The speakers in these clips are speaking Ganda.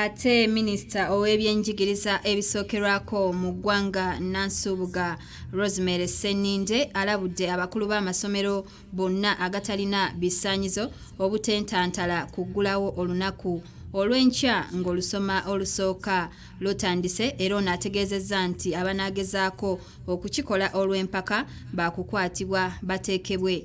Ate minisita ow'ebyenjigiriza ebisookerwako mu ggwanga Nansubuga Rosemary Sseninde alabudde abakulu b'amasomero bonna agatalina bisaanyizo obutentantala kuggulawo olunaku olw'enkya ng'olusoma olusooka lutandise era ono ategeezezza nti abanaagezaako okukikola olw'empaka baakukwatibwa bateekebwe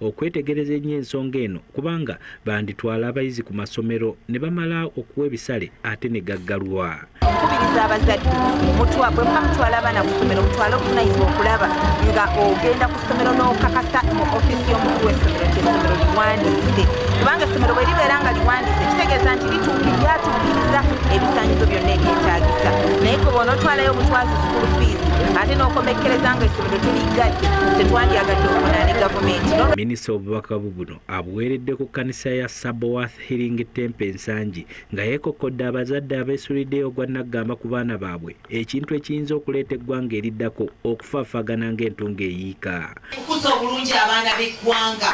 okwetegereza ennyo ensonga eno kubanga banditwala abayizi ku masomero ne bamala okuwa ebisale ate ne gaggalwa nkubiriza abazadde mutwabwe muba mutwala abaana ku ssomero mutwale obuvunanyizibwa okulaba nga ogenda ku ssomero n'okakasa mu ofiisi y'omukulu w'essomero nti essomero liwandiise kubanga essomero bwe libeera nga liwandiise kitegeeza nti lituuki lyatuukiriza ebisanyizo byonna ebyetaagisa naye kwe bonaotwalayo obutwazi sukulu fiizi ate n'okomekkereza nga minisita obubaka bubuno abuweeredde ku kkanisa ya sabowath healing tempe ensangi nga yeekokkodde abazadde abeesulidde ogwa naggamba ku baana baabwe ekintu ekiyinza okuleeta eggwanga eriddako okufaafagana ng'entungo eyiika okukuza obulungi abaana b'eggwanga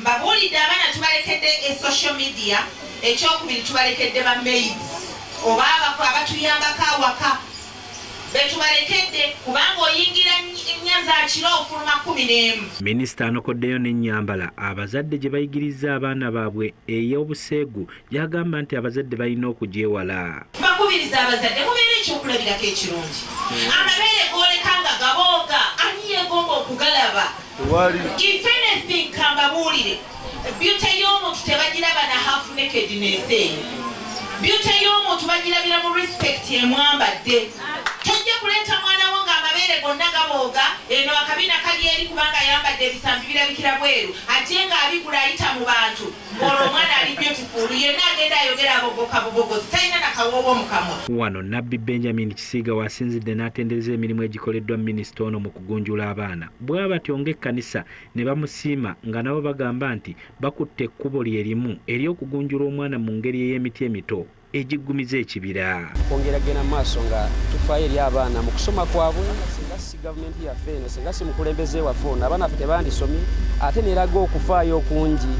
Mbabuulidde abaana tubalekedde e social media, ekyokubiri tubalekedde ba maids oba abako abatuyambako awaka betubalekedde kubanga oyingira nnya za kiro ofuluma kkumi n'emu. Minisita anokoddeyo n'ennyambala abazadde gye bayigirizza abaana baabwe ey'obuseegu gy'agamba nti abazadde balina okugyewala. Bakubiriza abazadde mubeera ekyokulabirako ekirungi. Amabeere gooleka nga gabooga ani yeegomba okugalaba? If anything kambabuulire, byute y'omuntu tebagiraba na half nakedness eyo. Byute y'omuntu bagirabira mu respect emwambadde. Tojja kuleeta mwana wo ng'amabeere gonna gabooga, eno akabina kali eri kubanga ayambadde ebisambi birabikira bweru ate ng'abigula ayita mu bantu. Wano Nabbi Benjamin Kisiiga wasinzidde n'atendereza emirimu egikoleddwa minisita ono mu kugunjula abaana bwa batyo ng'ekkanisa ne bamusiima nga nabo bagamba nti bakutte ekkubo lye limu ery'okugunjula omwana mu ngeri ey'emiti emito. egiggumiza ekibira. Okwongera kugenda mu maaso nga tufaayo eri abaana mu kusoma kwabwe, singa si gavumenti yaffe eno, singa si mukulembeze waffe ono, abaana ffe tebandisomye ate neraga okufaayo okungi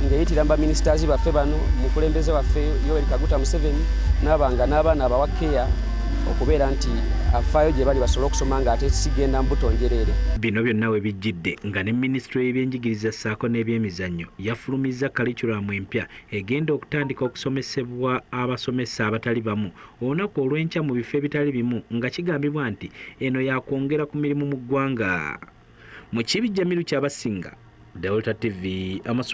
ng'eyitira mu baminisitaazi baffe bano, mukulembeze waffe Yoweri Kaguta Museveni n'abanga n'abaana abawa keya okubeera nti afaayo gye bali basobole okusoma ng'ate sigenda mbuto njereere. Bino byonna we bijjidde nga ne minisitule y'ebyenjigiriza ssaako n'ebyemizannyo yafulumizza kalikiramu empya egenda okutandika okusomesebwa abasomesa abatali bamu olunaku olw'enkya mu bifo ebitali bimu nga kigambibwa nti eno yakwongera ku mirimu mu ggwanga mu kibi jamiru kyabasinga delta tv